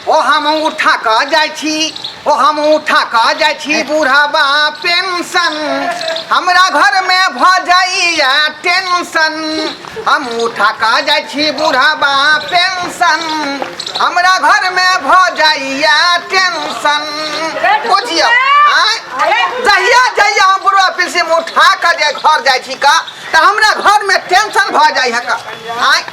ओ हम उठा क जाय छी ओ हम उठा क जाय छी बूढ़ाबा पेंशन हमरा घर में भ जाइया टेंशन हम उठा क जाय छी बूढ़ाबा पेंशन हमरा घर में भ जाइया टेंशन बुझियो आँय? जहिया जहिया हम बुढ़वा पेंशन उठा क जे घर जाय छी का त हमरा घर में टेंशन भ जाइया का आँय?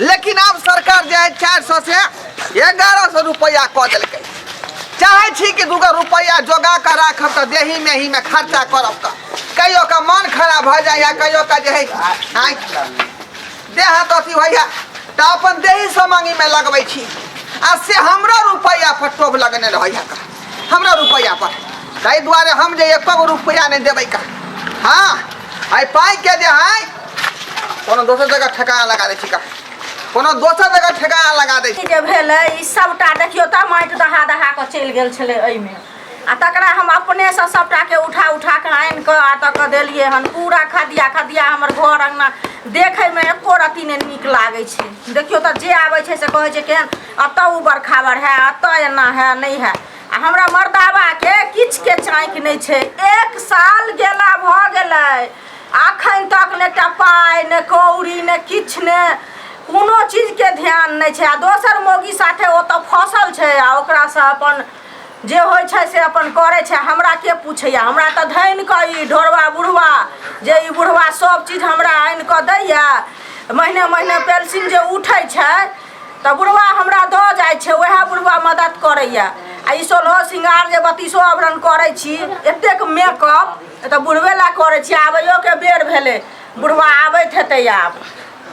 लेकिन आब सरकार जे है चारि सए से एगारह सए रुपैआ कऽ देलकै चाहे छी कि दूगो रुपैआ जोगा कऽ राखब तऽ देही मेही में खर्चा करब तऽ कहियो का मन खराब भऽ जाइया कहियो का जे है आँय, देह हाथ अथी होइया तऽ अपन देही समांगी में लगबै छी आ से हमरा रुपैआ पर टोभ लगने रहैया का हमरा रुपैआ पर ताहि दुआरे हम जे एको गो रुपैआ नहि देबै का हाँ एहि पाइके जे है कोनो दोसर जगह ठेकाना लगा दै छी का कोनो दोसर जगह ठेकाना लगा दै छी जे भेलै ई सभटा देखियौ तऽ माटि दहा दहा कऽ चलि गेल छलै एहिमे आ तकरा हम अपनेसँ सभटाके उठा उठा कऽ आनि कऽ आ तक देलियै हन पूरा खदिया खदिया हमर घर अङ्गना देखैमे एको रत्ती नहि नीक लागै छै देखियौ तऽ जे आबै छै से कहै छै केहन अतऽ उबर खाबर है अतऽ एना है नहीं है आ हमरा मर्दाबा के किछ के चाँक नहीं छै एक साल गेला भ गेले अखन तक ने एकटा पाय ने कौड़ी ने किछ ने कोनो चीज के ध्यान नहीं छै आ दोसर मोगी साथे ओतऽ फसल छै आ ओकरा से अपन जे होइ छै से अपन करै छै हमरा के पूछैया हमरा तऽ धनि कऽ ई ढोरवा बुढ़वा जे ई बुढ़वा सब चीज हमरा आनि कऽ दैया महीने महीने पेंशन जे उठै छै तऽ बुढ़वा हमरा दऽ जाइ छै उएह बुढ़वा मदद करैए आ ई सोलहो श्रृंगार जे बत्तीसो आवरण करै छी एतेक मेकअप तऽ बुढ़वे लए करै छी आबैयोके बेर भेलै बुढ़वा आबैत हेतै आब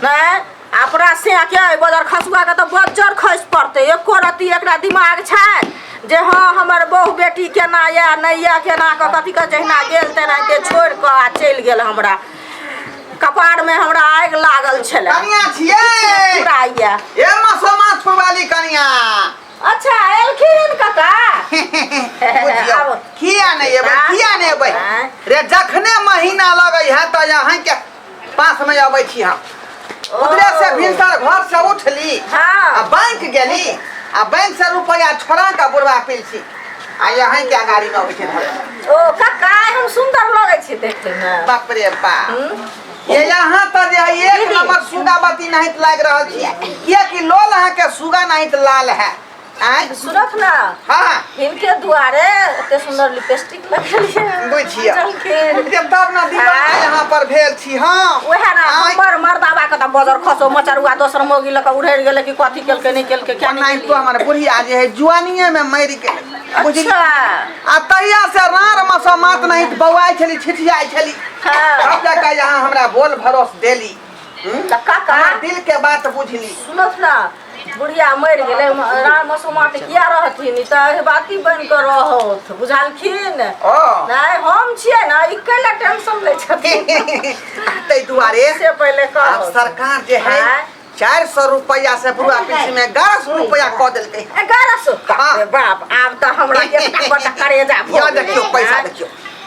नहि अपना से के बजर खसुआके तऽ बज्जर खसि पड़तै एको रत्ती एकरा दिमाग छै जे हँ हमर बहु बेटी केना यए नहि यए केना कऽ कथी कऽ जहिना गेल तेनाहिते छोड़ि कऽ आ चलि गेल हमरा कपारमे हमरा आगि लागल छलै कनिया छियै पूरा आइया ए मसोमास फुवाली कनिया अच्छा एलखिन कका बुझियौ, आबो। किया नहि एबै किया नहि एबै आँय। रे जखने महीना लगै है तऽ अहाँके पासमे अबै छी हम ओकरे से भिनसर घर से उठली आ हाँ बैंक गेली आ बैंक से रुपया छोड़ा के बुढ़वा पिलसी आ यहाँ के अगाड़ी में उठे धरे ओ कक्का हम सुंदर लगे छी देखे में बाप रे बाप हम्म? ये यहाँ पर जे है एक नंबर सुगा बत्ती नहीं लाग रहा छी किया कि लोल अहाँ के सुगा नहीं लाल है आय सुनत ना हाँ हाँ इनके दुआरे एते सुंदर लिपस्टिक लगलिए बुझिया। जलखिन जब तब ना दीवाना आय। यहाँ पर भेल छी हाँ ओहे ना आय। हमर मर्दाबा के त बजर खसो मचरुआ दोसर मोगी लक उड़ैर गेलै कि कथी केलकै नै केलकै क्या नै नहीं तो केलकै हमारे बुढ़िया जे है जुआनिए में मरि गेल बुझली अच्छा आ तहिया से रार मसो मात नहीं बौआइ छली छिठियाइ छली हाँ तब जाके यहाँ हमरा बोल भरोस देली हम्म? तऽ काका हमर दिल के बात बुझली सुनत ना बुढ़िया मरि गेलै राम मसुमा तऽ किया रहथिन ई तऽ अहिबाती बनि कऽ रहत बुझलखिन ओ नहि हम छियै ने ई कैला टेंशन लै छथिन ताहि दुआरे से पहिले आब कहब सरकार जे है आँय? चार सौ रुपया से बुआ पीसी में ग्यारह सौ रुपया कह देलते एगारह सौ हाँ। अरे बाप आब तऽ हमरा एकटा बड़का करेजा भऽ यो देखियो गेलै, पैसा आँय। देखियो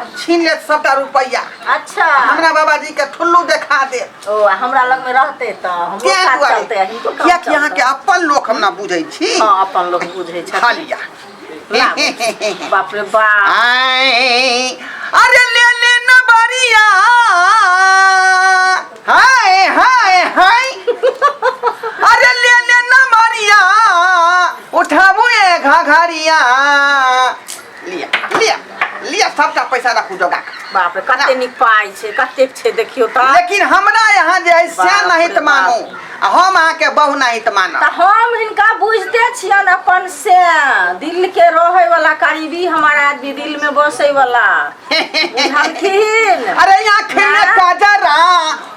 अब छीन लेत सबटा रुपैया अच्छा हमरा बाबाजी के ठुल्लू देखा दे ओ आ हमरा लग में रहते त हमरो किया काज दुआरे चलते हिनको काम किया कि यहाँ के चलते। अपन लोग हम ना बुझै छी हाँ अपन लोग बुझे खा छथिन लिया ना बुझे। बाप रे बाप आए, अरे ले ले न बरिया हाय हाय हाय अरे ले ले न बरिया उठाबू ए घाघरिया लिअ लिअ लिअ सबटा पैसा राखू जोगा बाप रे कते नीक पाइ छै कते छै देखियो त लेकिन हमरा यहाँ जे है से नहीं त मानू हम अहाँ के बहु नहीं त मानू त हम इनका बुझते छियन अपन से दिल के रहे वाला करीबी हमार आदमी दिल में बसे वाला बुझलखिन अरे यहाँ खेले काजरा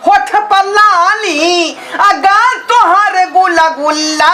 होठ पल्लानी अगर तोहर गुला गुल्ला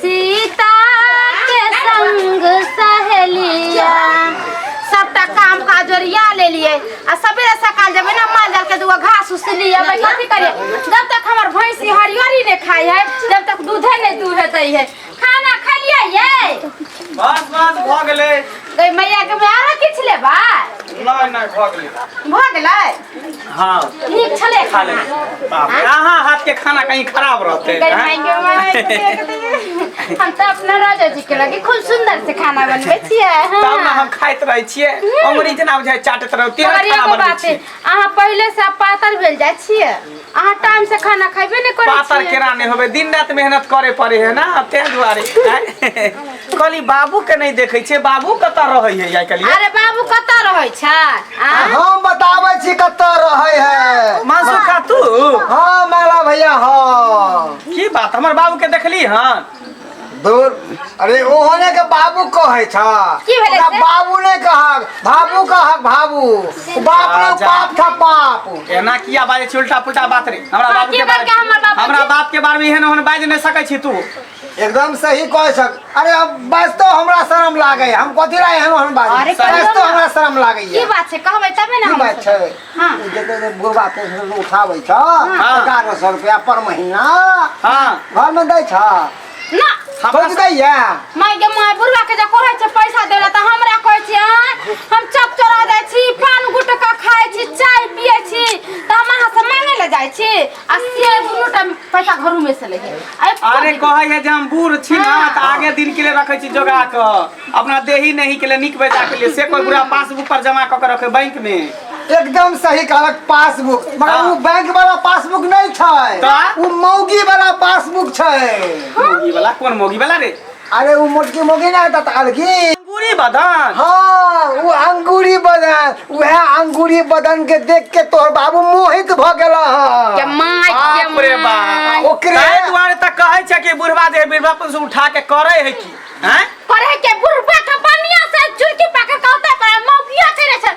सीता के संग सहेलिया सबटा काम काज ओरिया लेलिए आ सबेरे सकाल जब ना माल जाल के दुआ घास उस लिए भाई कथी करिए जब तक हमर भैंसी हरियरी ने खाई है जब तक दूधे ने दूहे दै है खाना खलिए ये बस बस भऽ गेलै गई मैया के में आरो किछ लेबा नहि नहि भऽ गेलै भऽ गेलै हाँ नीक छले खा ले खाना बाप रे, अहाँ हाथ के खाना कहीं खराब रहते गई हैं? मायके मायके हम तो अपना राजा जी के लगे खूब सुंदर से खाना बनबे छिए तब ना हम खाइत रहे छिए अंग्रेज ना बुझाए चाटत रहे तेरे मगर खाना एगो बनबै बात छिए अहाँ पहिले से आप पातर भेल जाइ छिए अहाँ टाइम से खाना खैबे नहि करै पातर छिए केरा नहीं होबे दिन रात मेहनत करे पड़े है ना तें दुआरे हैं? कहली बाबू के नहीं देखे छे बाबू कता रहे है आई कहली अरे बाबू कतऽ रहै छै आ? हम बताबै छी कतऽ रहै है मानसू खा तू हाँ माला भैया हाँ की बात हमर बाबू के देखली हन दूर अरे ओहने के बाबू कहै छ की भेलै ओकरा से? बाबू नहि कहक बाबू कहक बाबू बाप रे राजा। बाप था बाप एना किया बाजे छी उल्टा पुल्टा बात रे हमरा हाँ, बाबू की के बात बारे का हमर बाबू हमरा जी? बाप के बारे में एहन ओहन बाजि नहीं सकै छी तू एकदम सही कहै छक अरे अब बास्तो हमरा शरम लागै हम कथी ला एहन ओहन बात अरे कहियौ बास्तो ने। हमरा शरम लागै की बात छै कहबै तबे ने की हम बात छै हाँ। जते जे बुढ़बा पेंशन उठाबै छ हाँ। एगारह सौ रुपया पर महीना हाँ घर में दै छ ना सोच दैया माय गे माय बुढ़वा के जे कहै छै पैसा देला त हमरा कहै छै आँय, हम चप चोरा जाइ छी पान गुटका खाइ छी चाय पियै छी त हम अहाँ से मांगे ले जाइ छी आ से दुनू टाइम पैसा घरू में से ले है अरे अरे कहै है जे हम बूढ़ छी ना हाँ। तऽ आगे दिन के लिए रखै छी जोगा कऽ अपना देही नहीं के लिए नीक बेजा के लिए से कोई बुरा पासबुक पर जमा कऽ के रखे बैंक में एकदम सही कहलक पासबुक मगर हाँ। उ बैंक वाला पासबुक नहीं छै तऽ? उ मौगी वाला पासबुक छै मोगी वाला कोन मोगी वाला रे अरे उ मोटकी मोगी ना ता ताल की अंगूरी बदन हाँ उ अंगूरी बदन वह अंगूरी बदन के देख के तोहर बाबू मोहित भ गेला हन। जमाई बाप रे बाप ओकरे- ताहि दुआरे तऽ कहै छै कि बुढ़वा जे बुढ़बापन से उठा के करै है की हैं करे के बुढ़बा के बनिया से चुरकी पाके कहते पर मौकिया करे छै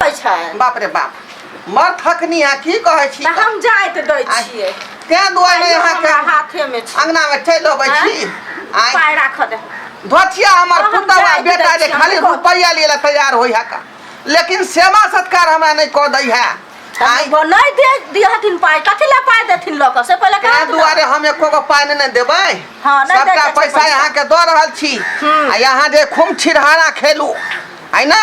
कहै छै बाप रे बाप मर थकनी है की कहै छी तऽ हम जाइत दै आइ- छियै तें दुआरे आइयो यहाँ हमरा के हाथे में छै अंगना में चलि अबै आँय? छी आइ पाय राख दे धोतिया हमर हम पुतवा जाइत बेटा दै जे छी, खाली हम कह- रुपैया लिए ला तैयार होई है का लेकिन सेवा सत्कार हमरा नहीं कह दै है आइ हम नहि दे दिहथिन पाय कथी ला पाय देथिन लऽ कऽ से पहिले तें कहत दुआरे हम एको गो पाइ नहि देबै हाँ, नहि सबटा दैके छै पैसा पैसा। यहाँ के दऽ रहल छी हम्म। आ यहाँ जे खूब छिरहारा खेलू है ना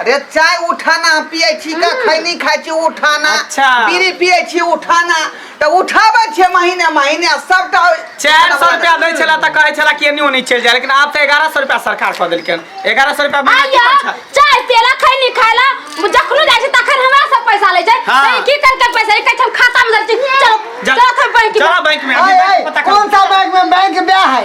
अरे चाय उठाना हम पियै छी का खैनी खाइ छी उठाना अच्छा। बीड़ी पियै छी उठाना तऽ उठाबै छियै महीने महीने आ सबटा चारि सए रुपया दै छला तऽ कहै छला कि एनी ओनी चलि जाय लेकिन आब तऽ एगारह सए रुपया सरकार कऽ देलकै एगारह सए रुपया महीना की आइया करै छै? चाय पियला खैनी खायला जखनो जाइ छै तखन हमरा सब पैसा लै छै हाँ। तऽ ई की करके पैसा ई कहै छै हम खाता में धर छी चलो जा। चलो थे बैंक चलो बैंक में आइ, आइ, पता कर कोन सा बैंक में बैंक ब्याह है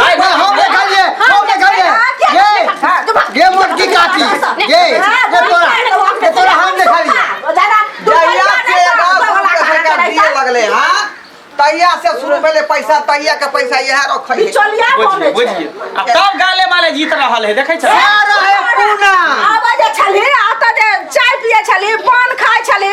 हाय ना हम ले कर ले हम ले कर ले ये ये मोट की काटी ये ये तोरा ये तोरा हम ले खा लिया जहिया से गाँव शुरू के सरकार दिए लगले हाँ तहिया से शुरू पहले पैसा तहिया के पैसा यह रखे बिचौलिया बने बुझिए छै बुझिए आ तब गाले माले जीत रहल है देखै छै रहे पूना आबै जे छली आतऽ जे चाय पियै छली पान खाइ छली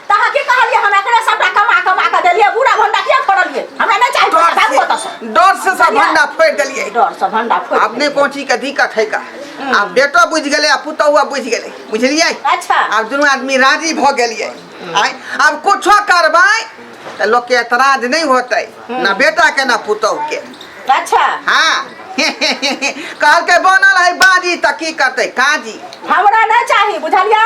तहाँ की कहलिए हम एकरे सबटा कमा कमा के देलिए बूढ़ा भंडा किया फोड़लिए हमरा नहीं चाहिए डर बाबू ओतऽ से से डर से सब भंडा फोड़ देलिए डर से भंडा फोड़ अपने कोची के दिक्कत है का आ बेटो बुझ गेले आ पुतहुआ बुझ गेले बुझलिए अच्छा। आब दुनू आदमी राजी भ गेलिए आय आब कुछो करबै त लोग के एतराज नहीं होते ना बेटा के ना पुतहु के अच्छा हाँ कहलकै बनल है बाजी त की करते काजी हमरा नहीं चाहिए बुझलिए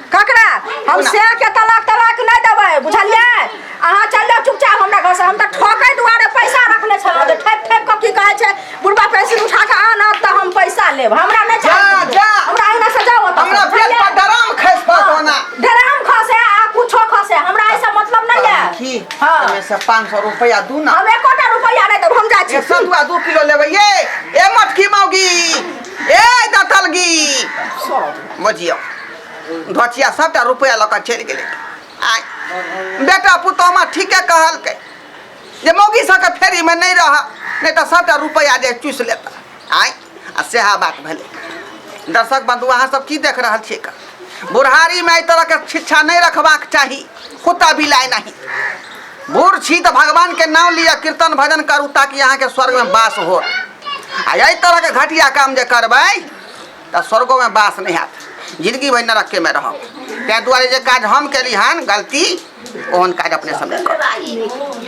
ककरा हम से के तलाक तलाक नहीं देवे बुझलिए अहाँ चल जाओ चुपचाप हमरा घर से हम तो ठोके दुआरे पैसा रखले छलहुँ तो ठेक ठेक के की कहे छे बुढ़बा पेंसिल उठा के आना तो हम पैसा लेब हमरा नहीं जा, चाहिए जा। हमरा अहिना से जाओ ओतऽ। हमरा पेट बुझलियै? पर डराम खसि पड़त ओना डराम खसे आ कुछो खसे हमरा ऐसा मतलब नहीं है की हाँ। एहिमे से पाँच सौ रुपया दू ना हम एकोटा रुपया नहीं देब हम जा छी एक सौ दुआ दू किलो लेबै ये ए मटकी मौगी ए दतलगी बजियौ घचिया सभटा रुपैआ लऽ कऽ चलि गेलै आ बेटा पुतोहमा ठीके कहलकै जे मौगी सभके फेरीमे नहि रह नहि तऽ सभटा रुपैआ जे चूसि लेता आँय आ सएह बात भेलै दर्शक बंधु अहाँ सब की देख रहल छियै का बुढ़ारीमे एहि तरहके शिक्षा नहि रखबाक चाही कुत्ता बिलाइ नहि बूढ़ छी तऽ भगवानके नाम लिअ कीर्तन भजन करू ताकि अहाँके स्वर्गमे वास हो आ एहि तरहके घटिया काम जे करबै तऽ स्वर्गोमे वास नहि हैत जिनगी भरि नरकेमे रहब ताहि दुआरे जे काज हम केली हन गलती ओहन काज अपने सब नहि करब